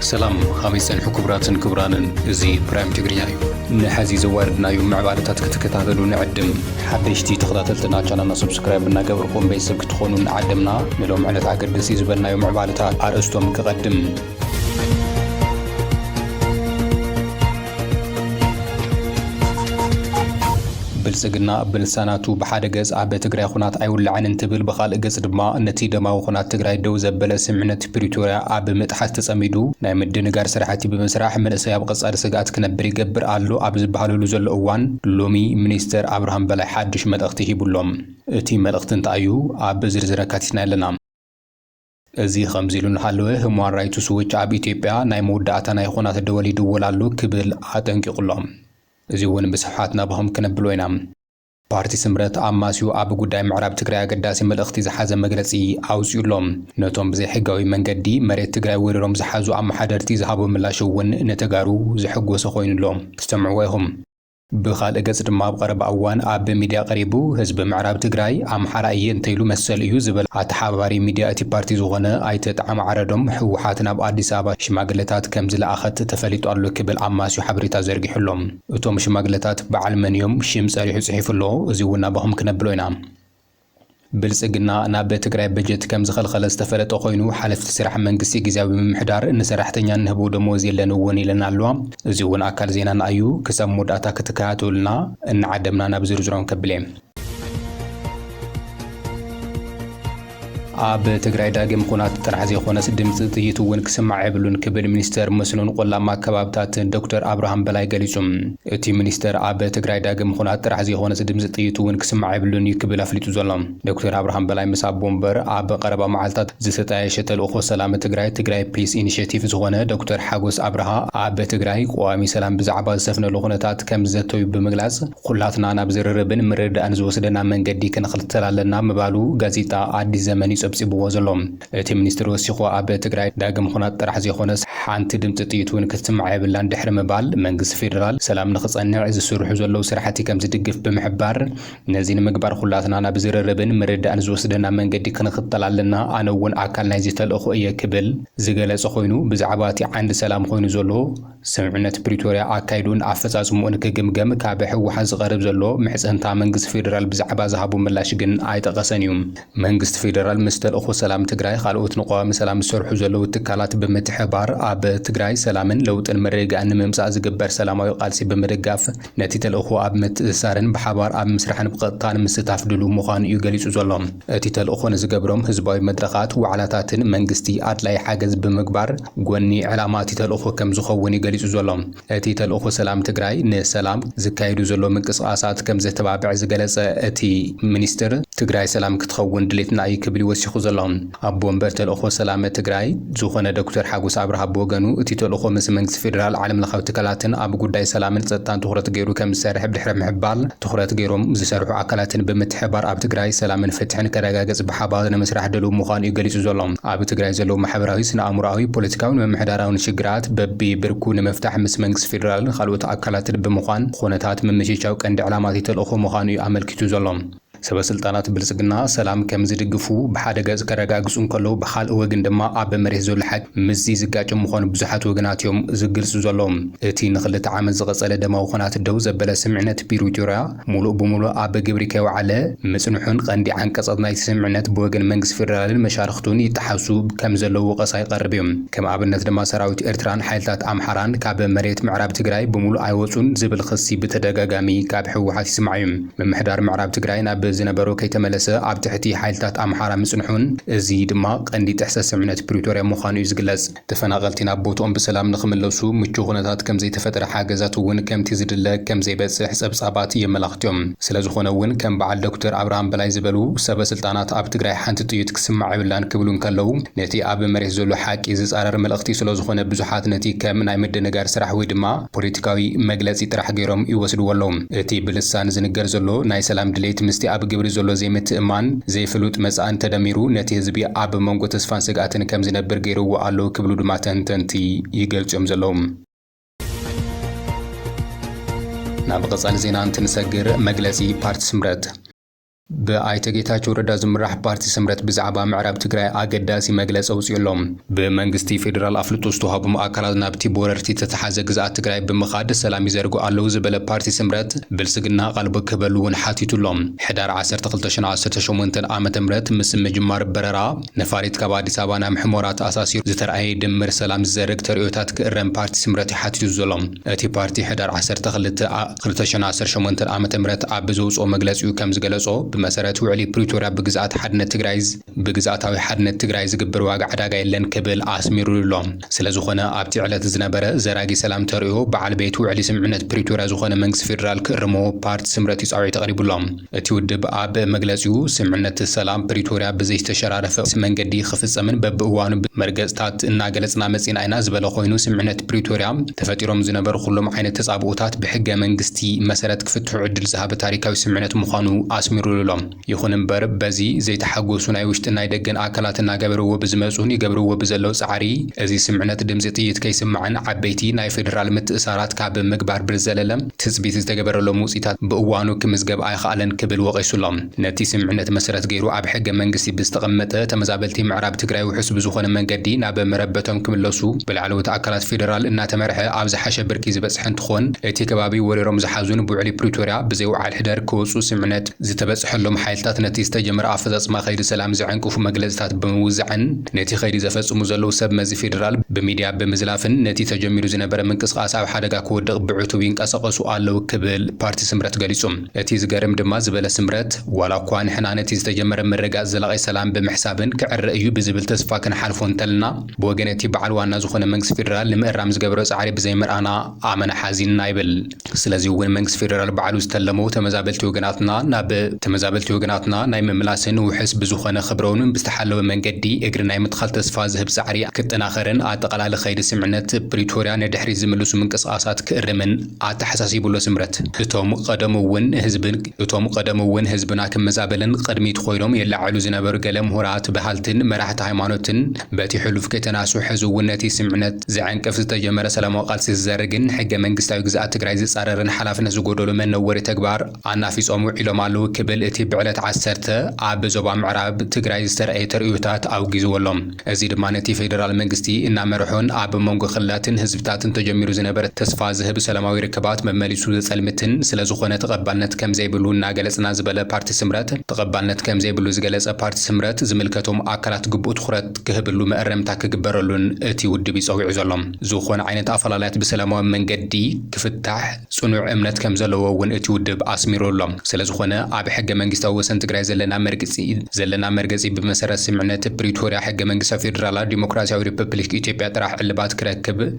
ሰላም ኻበይ ጸንሑ ክቡራትን ክቡራንን እዚ ፕራይም ትግርኛ እዩ ንሐዚ ዘዋርድናዩ ምዕባለታት ክትከታተሉ ንዕድም ሓደሽቲ ተኸታተልትና ቻናልና ሰብስክራይብ እናገበርኩም ቤተሰብ ክትኾኑ ንዓደምና ንሎም ዕለት ኣገደሲ ዝበልናዩ ምዕባለታት ኣርእስቶም ክቐድም ብልጽግና ብልሳናቱ ብሓደ ገጽ ኣብ ትግራይ ኹናት ኣይውላዕን እንትብል ብኻልእ ገጽ ድማ ነቲ ደማዊ ኹናት ትግራይ ደው ዘበለ ስምምዕነት ፕሪቶርያ ኣብ ምጥሓስ ተጸሚዱ ናይ ምድንጋር ስራሕቲ ብምስራሕ መንእሰይ ኣብ ቐጻሊ ስግኣት ክነብር ይገብር ኣሎ ኣብ ዝበሃለሉ ዘሎ እዋን ሎሚ ሚኒስተር ኣብርሃም በላይ ሓዱሽ መልእኽቲ ሂቡ'ሎ። እቲ መልእኽቲ እንታይ'ዩ? ኣብ ዝርዝር ኣካቲትናዮ ኣለና። እዚ ከምዚ ኢሉ እናሃለወ ህሟን ራይትስ ዎች ኣብ ኢትዮጵያ ናይ መወዳእታ ናይ ኹናት ደወል ይድወል ኣሎ ክብል ኣጠንቂቑ ኣሎ። እዚ እውን ብስፍሓት ናባኹም ክነብሎ ኢና። ፓርቲ ስምረት ኣማስዩ ኣብ ጉዳይ ምዕራብ ትግራይ ኣገዳሲ መልእኽቲ ዝሓዘ መግለፂ ኣውፂኡ ኣሎ። ነቶም ብዘይሕጋዊ መንገዲ መሬት ትግራይ ወሪሮም ዝሓዙ ኣመሓደርቲ ዝሃቦ ምላሽ እውን ንተጋሩ ዘሐጎሰ ኾይኑ ኣሎ። ትሰምዕዎ ኢኹም። ብኻልእ ገፅ ድማ ኣብ ቐረባ እዋን ኣብ ሚድያ ቐሪቡ ህዝቢ ምዕራብ ትግራይ ኣምሓራ እየ እንተይሉ መሰል እዩ ዝበል ኣተሓባባሪ ሚድያ እቲ ፓርቲ ዝኾነ ኣይተ ጣዕመ ዓረዶም ህወሓት ናብ ኣዲስ ኣበባ ሽማግለታት ከምዝለኣኸት ተፈሊጡ ኣሎ ክብል ኣማስዩ ሓበሬታ ዘርጊሑ ኣሎ። እቶም ሽማግለታት በዓል መን እዮም? ሽም ፀሪሑ ፅሒፉ ኣሎ። እዙይ እውን ናባኹም ክነብሎ ኢና። ብልፅግና ናብ ትግራይ በጀት ከምዝኸልኸለ ዝተፈለጠ ኮይኑ ሓለፍቲ ስራሕ መንግስቲ ግዝያዊ ምምሕዳር ንሰራሕተኛ እንህቦ ደሞዝ የለን እውን ኢለን ኣለዋ። እዚ እውን ኣካል ዜናና እዩ። ክሳብ መወዳእታ ክትከታተሉና እናዓደምና ናብ ዝርዝሮም ከብሌ። ኣብ ትግራይ ዳግም ኩናት ጥራሕ ዘይኮነስ ድምፂ ጥይት እውን ክስማዕ የብሉን ክብል ሚኒስተር መስኖን ቆላማ ኣከባብታትን ዶክተር ኣብርሃም በላይ ገሊፁ። እቲ ሚኒስተር ኣብ ትግራይ ዳግም ኹናት ጥራሕ ዘይኾነስ ድምጺ ጥይት እውን ክስማዕ የብሉን እዩ ክብል ኣፍሊጡ ዘሎ። ዶክተር ኣብርሃም በላይ ምስ ኣቦ ወንበር ኣብ ቐረባ መዓልታት ዝተጣየሸ ተልእኾ ሰላም ትግራይ፣ ትግራይ ፒስ ኢኒሼቲቭ፣ ዝኾነ ዶክተር ሓጎስ ኣብርሃ ኣብ ትግራይ ቀዋሚ ሰላም ብዛዕባ ዝሰፍነሉ ኹነታት ከምዝዘተዩ ብምግላጽ ኹላትና ናብ ዝርርብን ምርድዳእን ዝወስደና መንገዲ ክንኽልተል ኣለና ምባሉ ጋዜጣ ኣዲስ ዘመን እዩ ጸብጺብዎ ዘሎ። እቲ ሚኒስትር ወሲኹ ኣብ ትግራይ ዳግም ኹናት ጥራሕ ዘይኾነስ ሓንቲ ድምፂ ጥይት ውን ክትስማዕ የብላን ድሕሪ ምባል መንግስቲ ፌደራል ሰላም ንኽፀንዕ ዝስርሑ ዘለው ስራሕቲ ከምዝድግፍ ብምሕባር ነዚ ንምግባር ኹላትና ናብ ዝርርብን ምርዳእን ዝወስደና መንገዲ ክንኽተል ኣለና ኣነ ውን ኣካል ናይዚ ተልእኾ እየ ክብል ዝገለፀ ኾይኑ ብዛዕባ እቲ ዓንዲ ሰላም ኾይኑ ዘሎ ስምምዕነት ፕሪቶርያ ኣካይዱን ኣፈፃፅምኡን ክግምገም ካብ ህወሓት ዝቐርብ ዘሎ ምሕፅንታ መንግስቲ ፌዴራል ብዛዕባ ዝሃቦ ምላሽ ግን ኣይጠቐሰን እዩ። መንግስቲ ፌዴራል ምስ ተልእኾ ሰላም ትግራይ ኻልኦት ንቀዋሚ ሰላም ዝሰርሑ ዘለዉ ትካላት ብምትሕብባር ኣብ ትግራይ ሰላምን ለውጥን ምርግጋእን ንምምፃእ ዝግበር ሰላማዊ ቓልሲ ብምድጋፍ ነቲ ተልእኾ ኣብ ምትእስሳርን ብሓባር ኣብ ምስራሕን ብቐጥታ ንምስታፍ ድሉው ምዃኑ እዩ ገሊጹ ዘሎ። እቲ ተልእኾ ንዝገብሮም ህዝባዊ መድረኻት፣ ዋዕላታትን መንግስቲ ኣድላዪ ሓገዝ ብምግባር ጎኒ ዕላማ እቲ ተልእኾ ከም ዝኸውን እዩ ገሊጹ ዘሎ። እቲ ተልእኾ ሰላም ትግራይ ንሰላም ዝካየዱ ዘለዉ ምንቅስቓሳት ከም ዘተባብዕ ዝገለጸ እቲ ሚኒስትር፣ ትግራይ ሰላም ክትኸውን ድሌትና እዩ ክብል እዩ ወሲኹ ዘሎ። ኣቦ ወንበር ተልእኾ ሰላመ ትግራይ ዝኾነ ዶክተር ሓጎስ ኣብርሃ ብወገኑ፣ እቲ ተልእኾ ምስ መንግስቲ ፌደራል፣ ዓለምለኻዊ ትካላትን ኣብ ጉዳይ ሰላምን ፀጥታን ትኹረት ገይሩ ከምዝሰርሕ ድሕሪ ምሕባር፣ ትኹረት ገይሮም ዝሰርሑ ኣካላትን ብምትሕብባር ኣብ ትግራይ ሰላምን ፍትሕን ክረጋገፅ ብሓባር ንምስራሕ ድልው ምዃኑ ዩ ገሊፁ ዘሎ። ኣብ ትግራይ ዘለዉ ማሕበራዊ፣ ስነ-ኣእምሮኣዊ፣ ፖለቲካዊን ምምሕዳራዊን ሽግራት በቢብርኩ ንምፍታሕ ምስ መንግስቲ ፌደራልን ኻልኦት ኣካላትን ብምዃን ኹነታት ምምችቻው ቀንዲ ዕላማ እቲ ተልእኾ ምዃኑ ዩ ኣመልኪቱ ዘሎ። ሰበስልጣናት ብልጽግና ሰላም ከም ዝድግፉ ብሓደ ገጽ ከረጋግጹ እንከለዉ ብኻልእ ወግን ድማ ኣብ መሬት ዘሎ ሓቂ ምስዚ ዝጋጨ ምዃኑ ብዙሓት ወገናት እዮም ዝግልጹ ዘለዉ። እቲ ንኽልተ ዓመት ዝቐጸለ ደማዊ ኹናት ደው ዘበለ ስምምዕነት ፒሪቶርያ ሙሉእ ብሙሉእ ኣብ ግብሪ ከይወዓለ ምጽንሑን ቐንዲ ዓንቀጻት ናይቲ ስምምዕነት ብወገን መንግስቲ ፌደራልን መሻርኽቱን ይጠሓሱ ከም ዘለዉ ወቐሳ ይቐርብ እዩ። ከም ኣብነት ድማ ሰራዊት ኤርትራን ሓይልታት ኣምሓራን ካብ መሬት ምዕራብ ትግራይ ብሙሉእ ኣይወጹን ዝብል ኽሲ ብተደጋጋሚ ካብ ህወሓት ይስማዕ እዩ። ምምሕዳር ምዕራብ ትግራይ ናብ ዝነበሮ ከይተመለሰ ኣብ ትሕቲ ሓይልታት ኣምሓራ ምጽንሑን እዚ ድማ ቀንዲ ጥሕሰት ስምምዕነት ፕሪቶርያ ምዃኑ እዩ ዝግለጽ። ተፈናቐልቲ ናብ ቦትኦም ብሰላም ንኽምለሱ ምቹው ኩነታት ከምዘይተፈጥረ ሓገዛት እውን ከምቲ ዝድለ ከምዘይበጽሕ ጸብጻባት የመላኽቱ እዮም። ስለዝኾነ እውን ከም በዓል ዶክተር ኣብርሃም በላይ ዝበሉ ሰበ ስልጣናት ኣብ ትግራይ ሓንቲ ጥይት ክስማዕ የብላን ክብሉ እንከለዉ ነቲ ኣብ መሬት ዘሎ ሓቂ ዝጻረር መልእኽቲ ስለዝኾነ ብዙሓት ነቲ ከም ናይ ምድንጋር ስራሕ ወይ ድማ ፖለቲካዊ መግለጺ ጥራሕ ገይሮም ይወስድዎ ኣለዉ። እቲ ብልሳን ዝንገር ዘሎ ናይ ሰላም ድሌት ምስቲ ኣብ ግብሪ ዘሎ ዘይምትእምማን፣ ዘይፍሉጥ መጻእን ተደሚሩ ነቲ ህዝቢ ኣብ መንጎ ተስፋን ስግኣትን ከም ዝነብር ገይሩዎ ኣሎ ክብሉ ድማ ተንተንቲ ይገልጹ'ዮም ዘለዉ። ናብ ቐጻሊ ዜና እንትንሰግር መግለጺ ፓርቲ ስምረት፣ ብኣይተ ጌታቸው ረዳ ዝምራሕ ፓርቲ ስምረት ብዛዕባ ምዕራብ ትግራይ ኣገዳሲ መግለፂ ኣውፂኡ ኣሎ። ብመንግስቲ ፌዴራል ኣፍልጦ ዝተውሃቦም ኣካላት ናብቲ ብወረርቲ ዝተትሓዘ ግዝኣት ትግራይ ብምኻድ ሰላም ይዘርግሑ ኣለው ዝበለ ፓርቲ ስምረት ብልፅግና ኣቓልቦ ክህበሉ እውን ሓቲቱ ኣሎ። ሕዳር ዓሰርተ ክልተ ሸነወ ዓሰርተ ሸሞንተ ዓመተ ምህረት ምስ ምጅማር በረራ ነፋሪት ካብ ኣዲስ ኣበባ ናብ ሕሞራ ተኣሳሲሩ ዝተርኣየ ድምር ሰላም ዝዘርግ ተርእዮታት ክእረም ፓርቲ ስምረት እዩ ሓቲቱ ዘሎ። እቲ ፓርቲ ሕዳር ዓሰርተ ክልተ ክልተ ሽሕን ዓሰርተ ሸሞንተን ዓመተ ምህረት ኣብ ብዘውጽኦ መግለጺኡ ከም ዝገለጾ፣ ብመሰረት ውዕሊ ፕሪቶርያ ብግዝኣት ሓድነት ትግራይ ብግዝኣታዊ ሓድነት ትግራይ ዝግበር ዋጋ ዕዳጋ የለን ክብል ኣስሚሩሉ'ሎ። ስለዝኾነ ኣብቲ ዕለት ዝነበረ ዘራጊ ሰላም ተርእዮ በዓል ቤት ውዕሊ ስምምዕነት ፕሪቶርያ ዝኾነ መንግስቲ ፌደራል ክእርሞ ፓርቲ ስምረት እዩ ጻውዒት ኣቕሪቡ'ሎ። እቲ ውድብ ኣብ መግለጺኡ፣ ስምምዕነት ሰላም ፕሪቶርያ ብዘይተሸራረፈ መንገዲ ክፍጸምን በብእዋኑ መርገጽታት እናገለጽና መጺእና ኢና ዝበለ ኮይኑ፣ ስምምዕነት ፕሪቶርያ ተፈጢሮም ዝነበሩ ኩሎም ዓይነት ተጻብኦታት ብሕገ መንግስቲ መሰረት ክፍትሑ ዕድል ዝሃበ ታሪካዊ ስምምዕነት ምዃኑ ኣስሚሩሉ'ሎ። ይኹን እምበር በዚ ዘይተሓጎሱ ናይ ውሽጥን ናይ ደገን ኣካላት እናገበርዎ ብዝመጽኡን ይገብርዎ ብዘለው ጻዕሪ እዚ ስምምዕነት ድምጺ ጥይት ከይስማዕን ዓበይቲ ናይ ፌደራል ምትእሳራት ካብ ምግባር ብዝዘለለ ትጽቢት ዝተገበረሎም ውጽኢታት ብእዋኑ ክምዝገብ ኣይኸኣለን ክብል ወቒሱ ኣሎ። ነቲ ስምምዕነት መሰረት ገይሩ ኣብ ሕገ መንግስቲ ብዝተቐመጠ፣ ተመዛበልቲ ምዕራብ ትግራይ ውሑስ ብዝኾነ መንገዲ ናብ መረበቶም ክምለሱ ብላዕለዎት ኣካላት ፌደራል እናተመርሐ ኣብ ዝሓሸ ብርኪ ዝበጽሐ እንትኾን እቲ ከባቢ ወሪሮም ዝሓዙን ብውዕሊ ፕሪቶርያ ብዘይውዓል ሕደር ክወጹ ስምምዕነት ዝተበጽሐሎም ሓይልታት ነቲ ዝተጀመረ ኣፈፃፅማ ከይዲ ሰላም ዘዐንቅፉ መግለፅታት ብምውዛዕን ነቲ ከይዲ ዘፈፅሙ ዘለዉ ሰብ መዚ ፌዴራል ብሚዲያ ብምዝላፍን ነቲ ተጀሚሩ ዝነበረ ምንቅስቓስ ኣብ ሓደጋ ክወድቕ ብዕቱብ ይንቀሰቐሱ ኣለዉ ክብል ፓርቲ ስምረት ገሊፁ። እቲ ዝገርም ድማ ዝበለ ስምረት ዋላ እኳ ንሕና ነቲ ዝተጀመረ ምርግጋፅ ዘላቒ ሰላም ብምሕሳብን ክዕረ እዩ ብዝብል ተስፋ ክንሓልፎ እንተለና ብወገን እቲ በዓል ዋና ዝኾነ መንግስቲ ፌዴራል ንምእራም ዝገበሮ ፃዕሪ ብዘይምርኣና ኣመና ሓዚንና ይብል። ስለዚ እውን መንግስቲ ፌደራል ባዕሉ ዝተለሙ ተመዛበልቲ ወገናትና ናብ ተመዛበልቲ ወገናትና ናይ ምምላስን ውሕስ ብዝኾነ ክብረውን ብዝተሓለወ መንገዲ እግሪ ናይ ምትኻል ተስፋ ዝህብ ፃዕሪ ክጠናኸርን ኣጠቓላሊ ከይዲ ስምምዕነት ፕሪቶሪያ ንድሕሪት ዝምልሱ ምንቅስቓሳት ክእርምን ኣተሓሳሲቡ ኣሎ። ስምረት እቶም ቐደሙ እውን ህዝቢ እቶም ቐደሙ እውን ህዝብና ክመዛበልን ቕድሚት ኾይኖም የላዕዕሉ ዝነበሩ ገለ ምሁራት፣ በሃልትን መራሕቲ ሃይማኖትን፣ በቲ ሕሉፍ ከይተናሱ ሕዚ እውን ነቲ ስምዕነት ዘዐንቅፍ ዝተጀመረ ሰላማዊ ቃልሲ ዝዘርግን ሕገ መንግስታዊ ግዝኣት ትግራይ ዝፃረርን ሓላፍነት ዝጎደሎ መነወሪ ተግባር ኣናፊፆም ውዒሎም ኣለው ክብል እቲ ብዕለት ዓሰርተ ኣብ ዞባ ምዕራብ ትግራይ ዝተርኣየ ተርእዮታት ኣውጊዝዎ ኣሎ። እዚ ድማ ነቲ ፌደራል መንግስቲ እናመርሖን ኣብ መንጎ ክልላትን ህዝብታትን ተጀሚሩ ዝነበረ ተስፋ ዝህብ ሰላማዊ ርክባት መመሊሱ ዘፀልምትን ስለዝኾነ ተቐባልነት ከምዘይብሉ እናገለፅና ዝበለ ፓርቲ ስምረት ተቐባልነት ከምዘይብሉ ዝገለፀ ፓርቲ ስምረት ዝምልከቶም ኣካላት ኣፈላላያት ግቡእ ትኹረት ክህብሉ መእረምታ ክግበረሉን እቲ ውድብ'ዩ ጸዊዑ ዘሎ። ዝኾነ ዓይነት ኣፈላላያት ብሰላማዊ መንገዲ ክፍታሕ ጽኑዕ እምነት ከምዘለዎ እውን እቲ ውድብ ኣስሚሩ ኣሎ። ስለዝኾነ ኣብ ሕገ-መንግስታዊ ወሰን ትግራይ ዘለና መርግጺ ዘለና መርገጺ ብመሰረት ስምምዕነት ፕሪቶርያ ሕገ-መንግስታዊ ፌደራላዊ ዲሞክራሲያዊ ሪፐፕሊክ ኢትዮጵያ ጥራሕ ዕልባት ክረክብ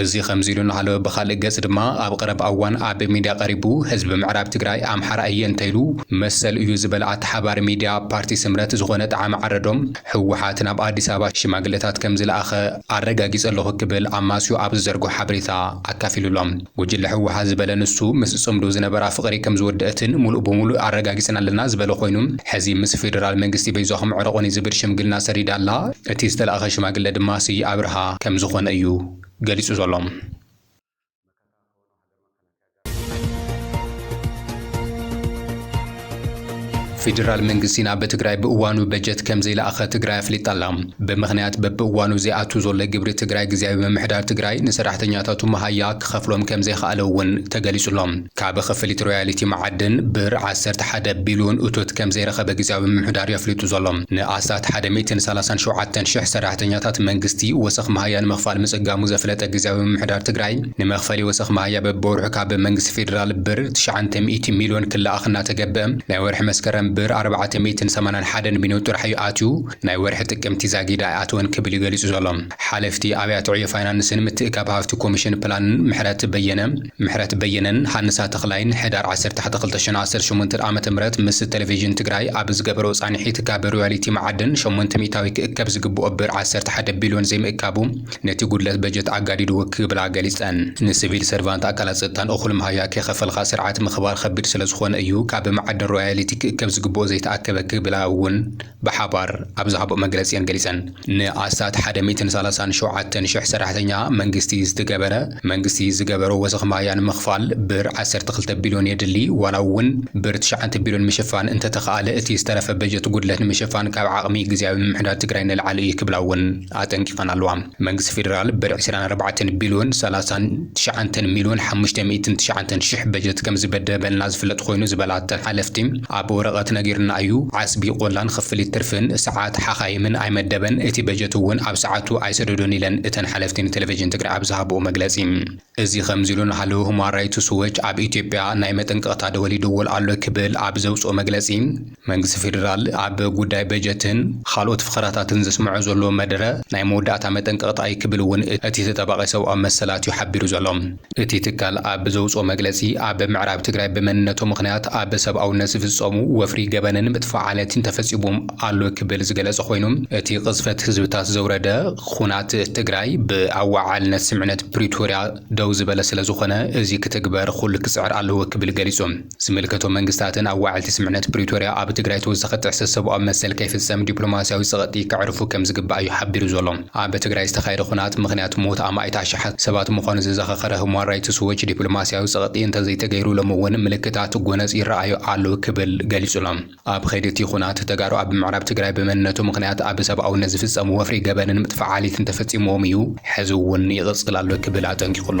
እዚ ከምዚሉ እናሃለወ ብኻልእ ገፅ ድማ ኣብ ቐረባ እዋን ኣብ ሚድያ ቐሪቡ ህዝቢ ምዕራብ ትግራይ ኣምሓራ እየ እንተይሉ መሰሉ እዩ ዝበለ ኣተሓባሪ ሚድያ ፓርቲ ስምረት ዝኾነ ጠዓመ ዓረዶም ህወሓት ናብ ኣዲስ ኣበባ ሽማግለታት ከምዝለኣኸ ኣረጋጊፀ ኣለኹ ክብል ኣማስዩ ኣብ ዝዘርግሖ ሓበሬታ ኣካፊሉ ኣሎ። ጉጅለ ህወሓት ዝበለ ንሱ ምስ ፅምዱ ዝነበራ ፍቕሪ ከምዝወደእትን ሙሉእ ብሙሉእ ኣረጋጊፅና ኣለና ዝበለ ኾይኑ ሕዚ ምስ ፌደራል መንግስቲ በይዛኹም ዕረቑኒ ዝብል ሽምግልና ሰሪዳ ኣላ። እቲ ዝተላእከ ሽማግለ ድማ ስየ ኣብርሃ ከም ዝኾነ እዩ ገሊጹ ዘሎ። ፌዴራል መንግስቲ ናብ ትግራይ ብእዋኑ በጀት ከምዘይለኣኸ ትግራይ ኣፍሊጣ ኣላ። ብምኽንያት በብእዋኑ ዘይኣቱ ዘሎ ግብሪ ትግራይ ግዝያዊ ምምሕዳር ትግራይ ንሰራሕተኛታቱ መሃያ ክኸፍሎም ከምዘይኸኣለ እውን ተገሊፁ ኣሎ። ካብ ክፍሊት ሮያሊቲ መዓድን ብር ዓሰርተ ሓደ ቢልዮን እቶት ከምዘይረኸበ ግዝያዊ ምምሕዳር የፍሊጡ ዘሎ። ንኣስታት ሓደ ሚእትን ሰላሳን ሸውዓተን ሽሕ ሰራሕተኛታት መንግስቲ ወሰኽ መሃያ ንምኽፋል ምፅጋሙ ዘፍለጠ ግዝያዊ ምምሕዳር ትግራይ፣ ንመኽፈሊ ወሰኽ መሃያ በቢወርሑ ካብ መንግስቲ ፌዴራል ብር ትሽዓንተ ሚእቲ ሚልዮን ክለኣኽ እናተገበ ናይ ወርሒ መስከረም ብር ኣርባዕተ ሚእትን ሰማንያን ሓደን ቢንዮ ጥራሕ እዩ ኣትዩ ናይ ወርሒ ጥቅምቲ ዛጊድ ኣይኣተወን ክብል እዩ ገሊፁ ዘሎ። ሓለፍቲ ኣብያተ ዕዮ ፋይናንስን ምትእካብ ሃፍቲ ኮሚሽን ፕላንን ምሕረት በየነ፣ ምሕረት በየነን ሃንሳ ተኽላይን ሕዳር ዓሰርተ ሓተ ክልተ ሽሕ ዓሰርተ ሸሞንተ ዓ ም ምስ ተለቪዥን ትግራይ ኣብ ዝገበርኦ ፃንሒት ካብ ሮያሊቲ መዓድን ሸሞንተ ሚኢታዊ ክእከብ ዝግብኦ ብር ዓሰርተ ሓደ ቢልዮን ዘይምእካቡ ነቲ ጉድለት በጀት ኣጋዲድዎ ክብላ ገሊፀን። ንስቪል ሰርቫንት ኣካላት ፀጥታን እኹል መሃያ ከይኸፈልኻ ስርዓት ምኽባር ኸቢድ ስለዝኾነ እዩ ካብ መዓድን ሮያሊቲ ክእከብ ዝግብኦ ዘይተኣከበ ክብላ እውን ብሓባር ኣብ ዝሃብኦ መግለፂ እየን ገሊፀን። ንኣስታት ሓደ ሚእትን ሰላሳን ሸውዓተን ሽሕ ሰራሕተኛ መንግስቲ ዝትገበረ መንግስቲ ዝገበሮ ወሰኽ ማያ ንምኽፋል ብር ዓሰርተ ክልተ ቢልዮን የድሊ ዋላ እውን ብር ትሽዓተ ቢልዮን ምሽፋን እንተተኽኣለ እቲ ዝተረፈ በጀት ጉድለት ንምሽፋን ካብ ዓቕሚ ግዝያዊ ምምሕዳር ትግራይ ንላዕሊ እዩ ክብላ እውን ኣጠንቂቐን ኣለዋ። መንግስቲ ፌደራል ብር ዕስራን ኣርባዕተን ቢልዮን ሰላሳን ትሽዓንተን ሚልዮን ሓሙሽተ ሚእትን ትሽዓንተን ሽሕ በጀት ከምዝበደበልና ዝፍለጥ ኮይኑ ዝበላ እተን ሓለፍቲ፣ ኣብ ወረቐት ነጊርና እዩ፣ ዓስቢ ቆላን ኽፍሊት ትርፍን ሰዓት ሓኻይምን ኣይመደበን፣ እቲ በጀት'ውን ኣብ ሰዓቱ ኣይሰደዶን ኢለን እተን ሓለፍቲ ንቴሌቬዥን ትግራይ ኣብ ዝሃብኦ መግለፂ። እዚ ከምዚሉ እንሃሉ ሁማን ራይትስ ዎች ኣብ ኢትዮጵያ ናይ መጠንቀቕታ ደወል ይድወል ኣሎ ክብል ኣብ ዘውጽኦ መግለጺ፣ መንግስቲ ፌደራል ኣብ ጉዳይ በጀትን ኻልኦት ፍኸራታትን ዘስምዖ ዘሎ መደረ ናይ መወዳእታ መጠንቀቕታ እዩ ክብል እውን እቲ ተጣባቒ ሰብኣዊ መሰላት እዩ ሓቢሩ ዘሎ። እቲ ትካል ኣብ ዘውጽኦ መግለጺ፣ ኣብ ምዕራብ ትግራይ ብመንነቶ ምኽንያት ኣብ ሰብኣውነት ዝፍጸሙ ወፍሪ ገበንን ምጥፋእ ዓለቲን ተፈጺሙም ኣሎ ክብል ዝገለጸ ኾይኑ እቲ ቕዝፈት ህዝብታት ዘውረደ ኹናት ትግራይ ብኣወዓልነት ስምዕነት ፕሪቶርያ ደው ዝበለ ስለዝኾነ እዚ ክትግበር ኹሉ ክፅዕር ኣለዎ ክብል ገሊፁ። ዝምልከቶም መንግስታትን ኣዋዓልቲ ስምዕነት ፕሪቶርያ ኣብ ትግራይ ተወሳኺ ጥሕሰት ሰብኣዊ መሰል ከይፍፀም ዲፕሎማሲያዊ ፀቕጢ ከዕርፉ ከምዝግባእ እዩ ሓቢሩ ዘሎ። ኣብ ትግራይ ዝተኻየደ ኹናት ምኽንያት ሞት ኣማኢት ኣሽሓት ሰባት ምዃኑ ዘዘኻኸረ ሁማን ራይትስ ዎች ዲፕሎማሲያዊ ፀቕጢ እንተዘይተገይሩ ሎሚ እውን ምልክታት ጎነፅ ይረኣዩ ኣለው ክብል ገሊፁ'ሎ። ኣብ ኸይዲ እቲ ኹናት ተጋሩ ኣብ ምዕራብ ትግራይ ብመንነቱ ምኽንያት ኣብ ሰብኣውነት ዝፍፀም ወፍሪ ገበንን ምጥፋእ ዓሌትን ተፈፂምዎም እዩ፣ ሕዚ እውን ይቕፅል ኣሎ ክብል ኣጠንቂቑ ኣሎ።